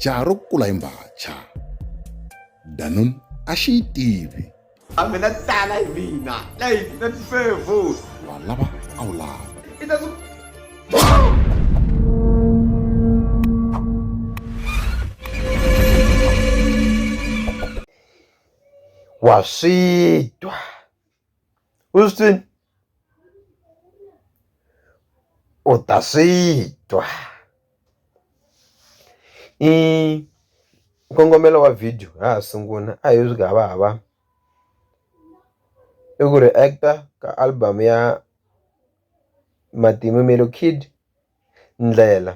jaha ro kula hi mbhacha danun a xi yi tivi a mina tala hi mina leyi na tifevo wa lava a wu lava wa swi twa u swi twini u ta swi twa i nkongomelo wa video ha ha sungula a hi swihavahava i ku react-a ka album ya matimu mellow kid ndlela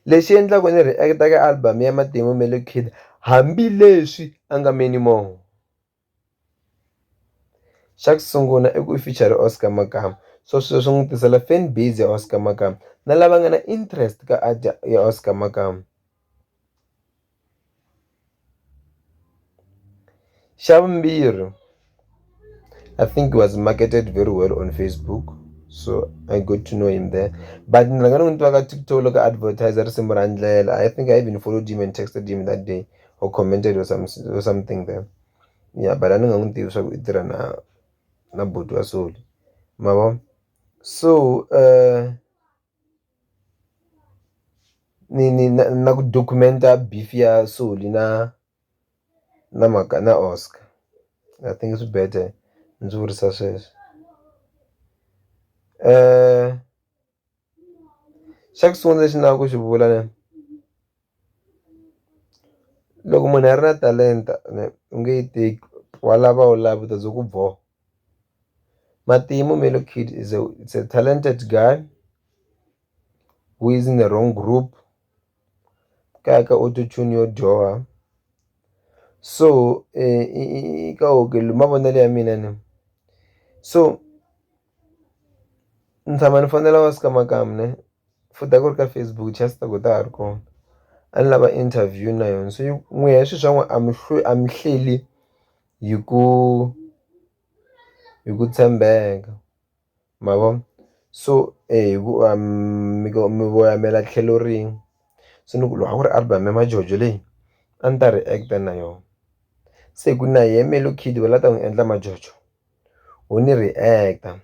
lexi endlaka ni react-a ka album ya matimu ma le kid hambileswi a nga many more xa ku sungula i ku i feature Oscar Makamu so swilo swi n'wi tisela fan base ya Oscar Makamu na lava nga na interest ka Oscar Makamu. xa vumbirhi I think he was marketed very well on Facebook so I got to know him there but ni rhanga ni n'wi tiva ka TikTok loko advertise risimu ra ndlela I think I even followed him and texted him that day or commented or some or something there ya but a ni nga n'wi tivi swa ku i tirha na na buti wa soli ma vo so . ni ni na na ku documenter beef ya soli na na mhaka na Oscar I think swi better ndzi vurisa sweswo xa ku sungula lexi ni lava ku xi vula. Loko munhu a ri na talenta ene u nge yi teki wa lava u lava u ta ze u ku bo matimu Mellow Kid is a is a talented guy who is in the wrong group kayaka Auto-Tune yo dyoha so i ka mavonelo ya mina ni so. Ni tshama ni fonela hosi ka makamu ne futa ku ri ka Facebook Chester ku ta ha ri kona a ni lava interview na yona se n'wi ya hi swi swa n'we a mi a mi hleli hi ku hi ku tshembeka ma vo so hi ku a mi ku mi voyamela tlhelo rin'we se ni ku loko a ku ri album ya majojo leyi a ni ta react na yona se hi ku na hi yimele kid va la ta n'wi endla majojo. u ni react-a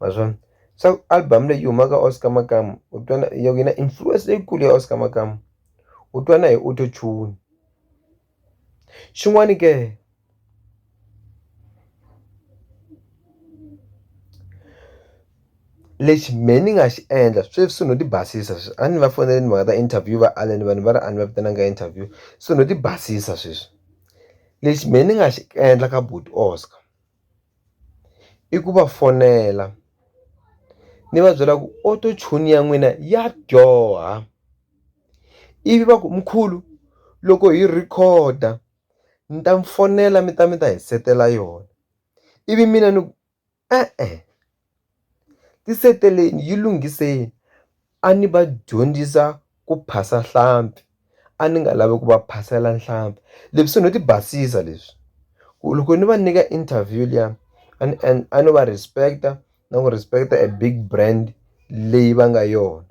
ma swi vona se album leyi humaka Oscar Makamu u twa na yi na influence leyikulu ya Oscar Makamu u twa na hi auto tune xin'wani ke lexi me ni nga xi endla sweswi no ti basisa sweswi a ni va fonela timhaka ta interview va Allan vanhu va ri a ni va vitananga ka interview so no ti basisa sweswi. lexi mehe ni nga xi endla ka buti Oscar i ku va fonela ni va byela ku auto tune ya n'wina ya dyoha ivi va ku mkhulu loko hi record-a ni ta mi fonela mi ta mi ta hi setela yona ivi mina ni ku. E-e tiseteleni yi lunghiseni a ni va dyondzisa ku phasa nhlampfi a ni nga lavi ku va phasela nhlampfi leswi swi no ti basisa leswi ku loko ni va nyika interview liya a ni a ni va respect na ku respect a big brand leyi va nga yona.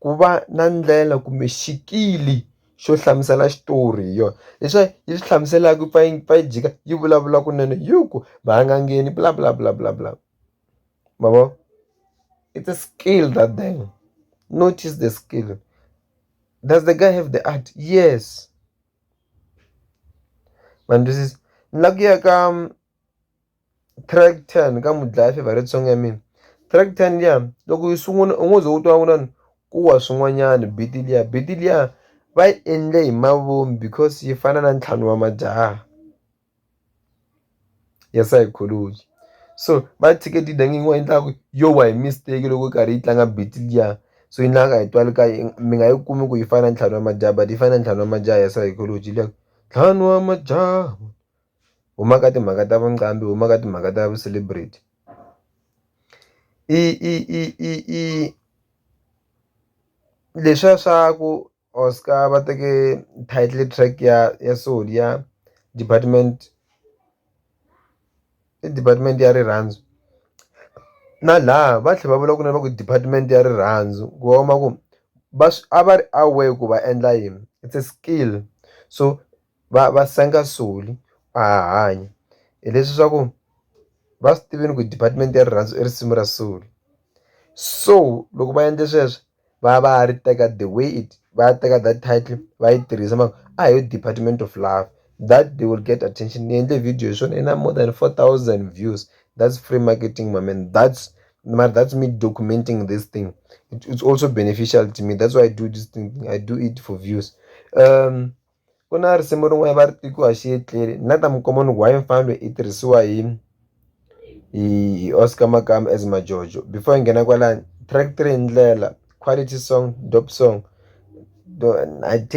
ku va na ndlela kumbe xikili xo hlamusela xitori hi yona hi swo yi swi hlamuselaka yi pfa yi pfa yi jika yi vulavula kunene hi ku vhangange bla bla bla bla bla ma vo it's a skill that then notice the skill does the guy have the art yes ma ni twisisa ni la ku ya ka. Track ten ka mudlaya favourite song ya mina track ten liya loko yi sungula u ngo ze u twa ku ri inani ku wa swin'wanyani beat liya beat liya va yi endle hi mavoni because yi fana na ntlhanu wa majaha ya sayikholoji so va tshikilele nge yin'wana yi tlhela ku yo wa hi mistake loko yi karhi yi tlanga beat liya so yi nga ka hi twali ka yini mi nga yi kumi ku yi fana na ntlhanu wa majaha but yi fana na ntlhanu wa majaha ya sayikholoji liya ntlhanu wa majaha. huma ka timhaka ta vuqambhi huma ka timhaka ta vu celebrity i i i i i leswiya swa ku Oscar va teke title track ya ya so liya department i department ya rirhandzu na laha va tlhela va vula ku na va ku department ya rirhandzu ku va kuma ku va swi a va ri aware ku va endla yini it's a skill so. va va senga soli a ha hanya hi leswi swa ku va swi tivini ku department ya rirhandzu i risimu ra soli so loko va endle sweswo va ya va ya ri teka the way it va ya teka that title va yi tirhisa mara a hi department of love that they will get attention ni endle video hi swona yi na more than four thousand views that's free marketing mhani and that's mara that's me documenting this thing it's also beneficial to me that's why I do this thing I do it for views . Ku na risimu rin'wani va ri i ku a xi etleli na ta mukon'wini ku why mfana lweyi i tirhisiwa hi hi hi Oscar Makamu as Majojo before hi nghena kwalani track three i ndlela quality song dope song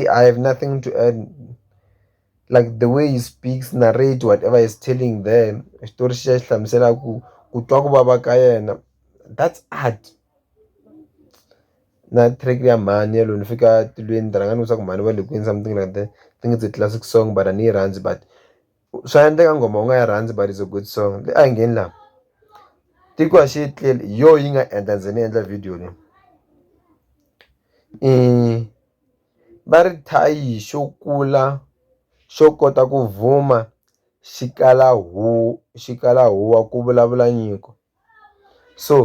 I have nothing to add like the way he speaks narrate whatever he's telling there xitori xi ya xi hlamusela ku ku twa ku vava ka yena that's art. na track liya mhani ya loko ni fika tilweni ni ta rhanga ni vutisa ku mhani va le kwini something like that ti nge the classic song but a ni yi rhandzi but swa endleka nghoma u nga yi rhandzi but it's a good song leyi a hi ngheni la tiko a xi yi tleli hi yo yi nga endla ni ze ni endla video leyi va ri thayi xo kula xo kota ku vuma xi kala xi kala huwa ku vulavula nyiko. so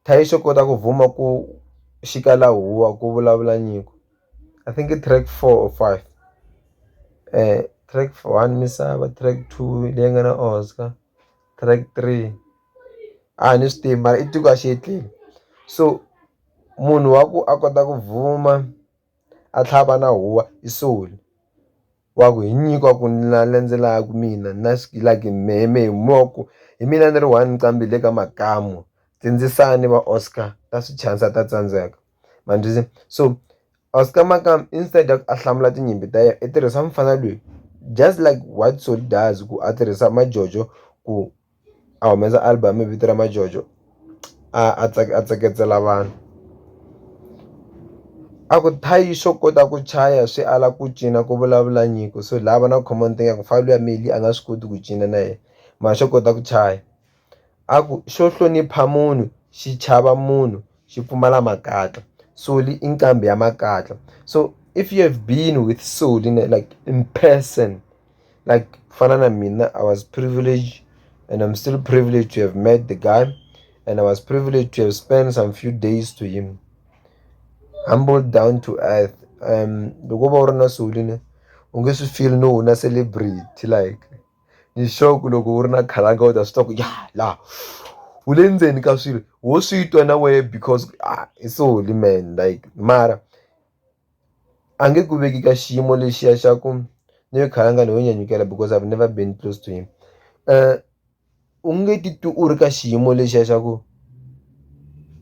than xo kota ku vuma ku xi kala huwa ku vulavula nyiko I think i track four or five track one misava track two leyi nga na Oscar track three a ni swi tivi mara i tiko a xi hetleli so munhu wa ku a kota ku vuma. a tlhela a va na huwa i soni wa ku hi nyiko wa ku la landzelaka mina na swi like mehe me hi mo ku hi mina ni ri one nqambi hi le ka makamu sindzisani va Oscar ta swi chance a ta tsandzeka ma ni twisisa so Oscar makamu instead ya ku a hlamula tinyimpi ta yena i tirhisa mufana lweyi just like what Solly does ku a tirhisa majojo ku. a humesa album hi vito ra majojo a a a tseketsela vanhu a ku thayi swo kota ku chaya swi ala ku cina ku vulavula nyiko so laya va na common thing ya ku fana na luya Melly a nga swi koti ku cina na yena mara swa kota ku chaya a ku xo hlonipha munhu xichava munhu. xi pfumala makatla soli i nqambi ya makatla so if you have been with soli ne like in person like ku fana na mina I was privileged and I'm still privileged to have met the guy and I was privileged to have spent some few days to him humble down to earth um loko va u ri na soli ne u nge swi feel no u na celebrity like ni sure ku loko u ri na khalanga u ta swi tiva ku ya la u le ndzeni ka swilo wo swi twa na wehe because a i so holy man like mara a nge ku veki ka xiyimo lexiya xa ku ni yo khalanga ni ho nyanyukela because I've never been close to him u nge titwi u ri ka xiyimo lexiya xa ku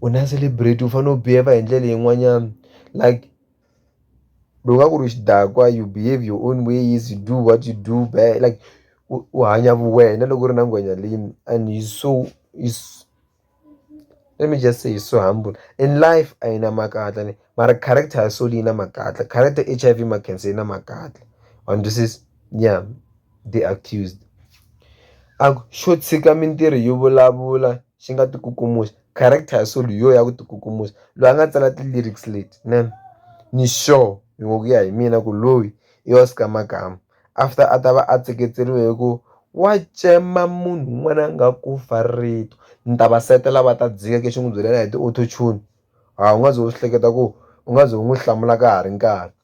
u na celebrate u fanele u behave hi ndlela yin'wanyana like loko nga ku ri xidakwa you behave your own ways you do what you do like u u hanya vu wena loko u ri na ngwenya leni and he so is let me just say so humble in life a yi na makatla ni mara character ya so leyi na makatla character H_I_V ma cancer yi na makatla wa ni twisisa nya the accused a xo tshika mintirho yo vulavula xi nga ti kukumuxi. character ya solo hi yo ya ku tikukumuxa loyi a nga tsala ti-lyrics leti ne ni sure hi ngo ku ya hi mina ku loyi i Oscar Magama after a ta va a tseketseriwe hi ku wa cema munhu un'wana a nga ku fa rito ni ta va setela va ta dzika ke xi n'wi byelela hi ti-auto tune ha u nga ze u swi hleketa ku u nga ze u n'wi hlamula ka ha ri nkarhi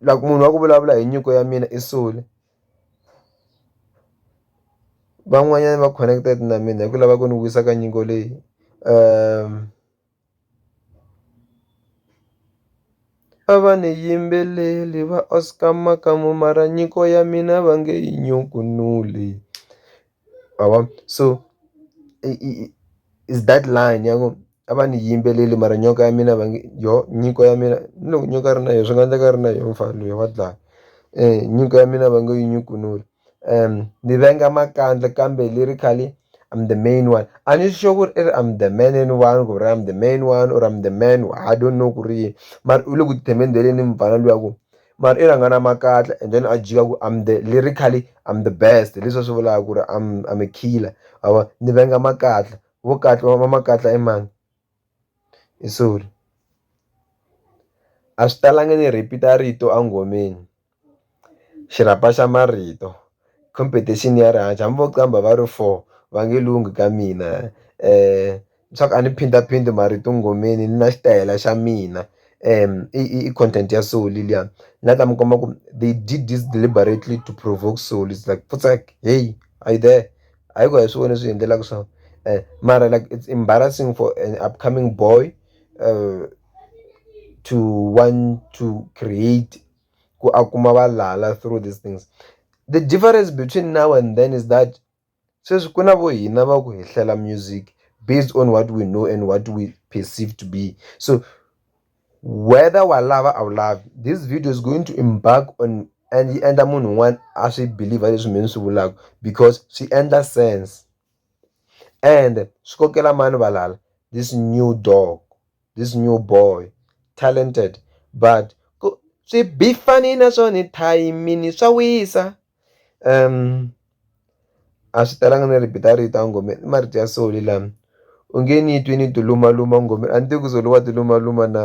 loko munhu wa ku vulavula hi nyiko ya mina i sule van'wanyana va connected na mina hi ku lava ku ni wisa ka nyiko leyi a va ni yimbeleli va Oscar Makamu mara nyiko ya mina va nge yi nyukunuli. mavona so i i i is that line ya ku a va ni yimbeleli mara nyoka ya mina va nge yo nyiko ya mina ni loko nyoka a ri na yo swi nga endleka a ri na yo mfana luya wa dlaya nyiko ya mina va ngo yi nyukunuri ni venga makandza kambe lyrically I'm the main one a ni sure ku ri i ri I'm the man and one ku ri I'm the main one or I'm the man I don't know ku ri yini mara u le ku tshembeni le ni mfana luya ku. Mara i rhanga na ma katla and then a jika ku I'm the lyrically I'm the best hi leswi a swi vulaka ku ri I'm I'm a killer ma vo ni venga makatla vo kahle va makatla i mani i Soul a swi talangi ni repeat-a rito a nghomeni xirhapa xa marito competition ya ri hansi hambi vo qambha va ri four va nge lunghi ka mina . swa ku a ni phindhaphindi marito nghomeni ni na xitayele xa mina i i content ya so liya na la mi komba ku they did this deliberately to provoke so it's like futsek heyi are you there hayi ku a hi swi vona leswi hi endlelaka swona mara like it's embarrassing for an upcoming boy to want to create ku a kuma valala through these things the difference between now and then is that. sweswi ku na vo hina va ku hi hlalela music based on what we know and what we perceive to be so whether wa lava a wu lavi this video is going to embark on and yi endla munhu un'wana a swi believer leswi me ni swi vulaka because swi endla sense ende swi kokela mani valala this new dog this new boy talented but ku swi bifaniwile naswona hi thayimini swa wisa. a swi talanga ni ri byi ta rito a ngo i marito ya so lama u nge ni twi ni ti lumaluma ngo a ni tivi ku zondho wa ti lumaluma na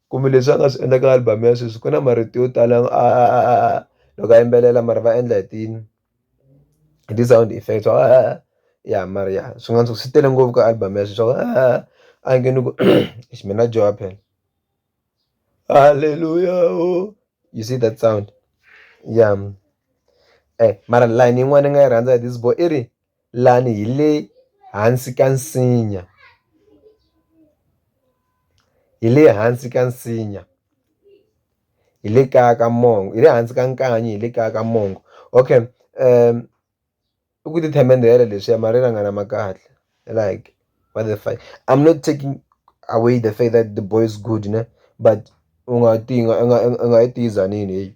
kumbe leswi a nga swi endla ka album ya sweswi ku na marito yo tala a loko a yimbelela mara va endla hi ti hi ti-sound effect swa ku ya mara ya swin'wana swi tele ngopfu ka album ya sweswi swa ku a nge ni ku exi mina dyoha phela. Hallelujah. Oh. You see that sound? Yeah. Eh, mara line yin'wana ni nga yi rhandza hi this boy i ri lani hi le hansi ka nsinya hi le hansi ka nsinya hi le kaya ka mongo hi le hansi ka nkanyi hi le kaya ka mongo okay um i ku tithemendela leswiya mara i vanghana ma kahle like va the fact I'm not taking away the fact that the boys good ne but u nga ti nga nga nga nga yi tiyi zwanini heyi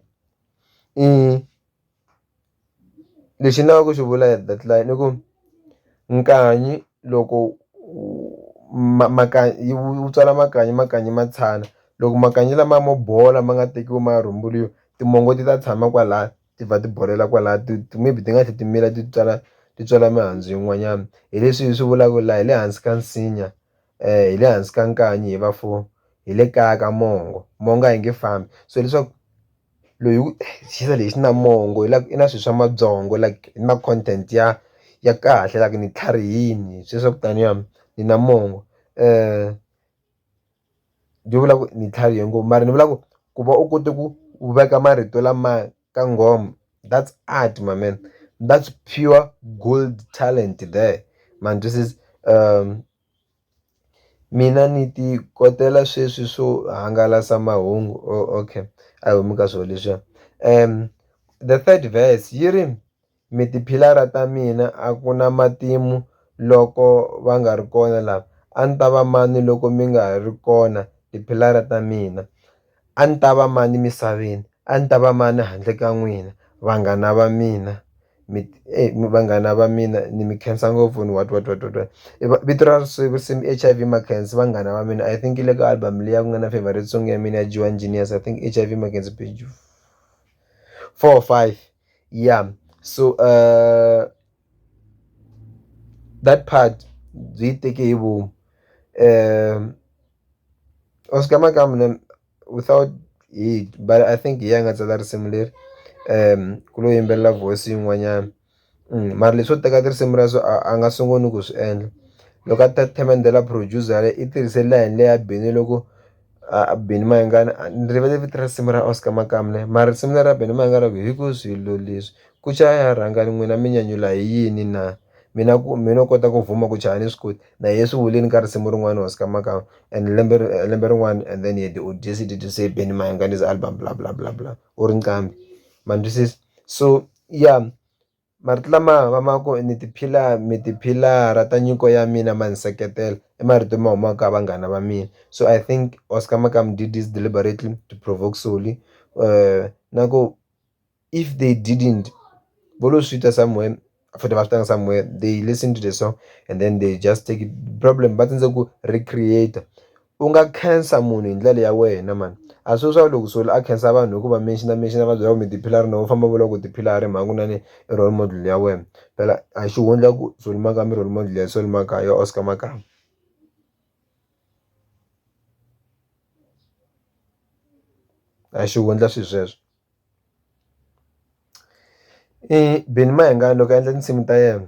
lexi ni lavaka ku xi vula hi that line i ku nkanyi loko makanyi wu tswala makanyi makanyi ma tshana loko makanyi lama mo bola ma nga tekiwi ma ya rhumburiwa timongo ti ta tshama kwalaya ti va ti bolela kwala ti ti maybe ti nga tlhe ti mila ti tswala ti tswala mihandzu yin'wanyana hi leswi hi swi vulaka ku la hi le hansi ka nsinya hi le hansi ka nkanyi hi va four hi le kaya ka mongo mongo a hi nge fambi so leswaku loyi xilo lexi na mongo hi la ku i na swilo swa mabyongo like i na content ya ya kahle like ni tlharihini sweswi swa ku taniya ni na mongo . ni vula ku ni tlhaviwe ngopfu mara ni vula ku ku va u kote ku u veka marito lama ka nghoma that's art my man that's pure gold talent there ma ni twisisa mina ni ti kotela sweswi swo hangalasa mahungu okay a hi humi ka swo leswiya the third verse yi ri. Mi tiphilara ta mina a ku na matimu loko va nga ri kona lava a ni ta va mani loko mi nga ha ri kona tiphilara ta mina a ni ta va mani misaveni a ni ta va mani handle ka n'wina vanghana va mina mi vanghana va mina ni mi khensa ngopfu ni what what what what what vito ra risimu i H_I_V Makhensi vanghana va mina I think yi le ka album leyi ku nga na favourite song ya mina ya Djiwa Engineers I think H_I_V Makhensi page four or five. yeah so uh that part byi yi teke hi vomu um or swi ka mhaka mune without hi but I think hi yena a nga tsala risimu leri um ku lo yimbelela voice yin'wanyana mara leswo teka tinsimu ra so a nga sunguli ku swi endla loko a ta themendela producer yaleyo i tirhise layeni leya bine loko. A Benny Mayengani a ni rivele vito ra nsimu ra Oscar Makamane mara risimu leri ra Benny Mayengani ra ku hi ku swilo leswi ku chaya rhangani n'wina mi nyanyula hi yini na mina ku mi no kota ku vuma ku chaya a ni swi koti na hi swi vuleni ka risimu rin'wani Oscar Makamu and lembe lembe rin'wani and then he had the audacity to say Benny Mayengani is album blablablabla u ri nqambi ma ni twisisa so ya. Marito lama va ma ku ni tiphina mi tiphilara ta nyiko ya mina ma ni seketela i marito ma humaka ka vanghana va mina so I think Oscar Makamu did this deliberately to provoke Solly na ku if they didn't vo lo swi twa somewhere futhi a va swi twanga somewhere they listen to the song and then they just take it problem va tsandzeka ku recreate-a. u nga khensa munhu hi ndlela ya wena mhani a swi swa loko Zulu a khensa vanhu hikuva mixo na mixo na va byela ku mi tiphina ri nhovo famba vula ku tiphina ri mhangu na ni i role model ya wena phela a xi hundla ku Zulu makaya mi role model ya Zulu makaya ya Oscar makaya a xi hundla swi sweswo Benny Mayengani loko a endla tinsimu ta yena.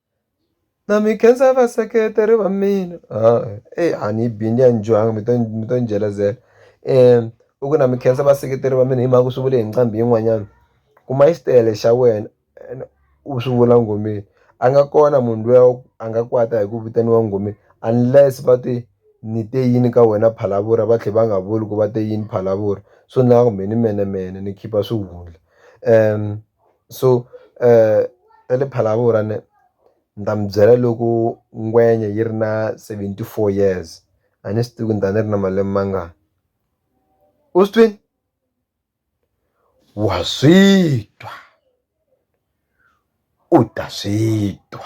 na mi khensa vaseketeri va mina eyi a ni yi bi liya njwanga mi to mi to ni jelezela i ku na mi khensa vaseketeri va mina hi mhaka ku swi vula hi nqambi yin'wanyana ku ma xitayele xa wena ene u swi vula nghomeni a nga kona munhu luya wa ku a nga kwata hi ku vitaniwa nghomeni unless va te ni te yini ka wena Phalaborwa va tlhe va nga vuli ku va te yini Phalaborwa swo ni lava ku mhe ni menemene ni khipha swihundla . so ra le Phalaborwa ni ta mi byela loko ngwenya yi ri na seventy four years a ni swi tivi ku ni ta ni ri na malembe mangani u swi twini wa swi twa u ta swi twa.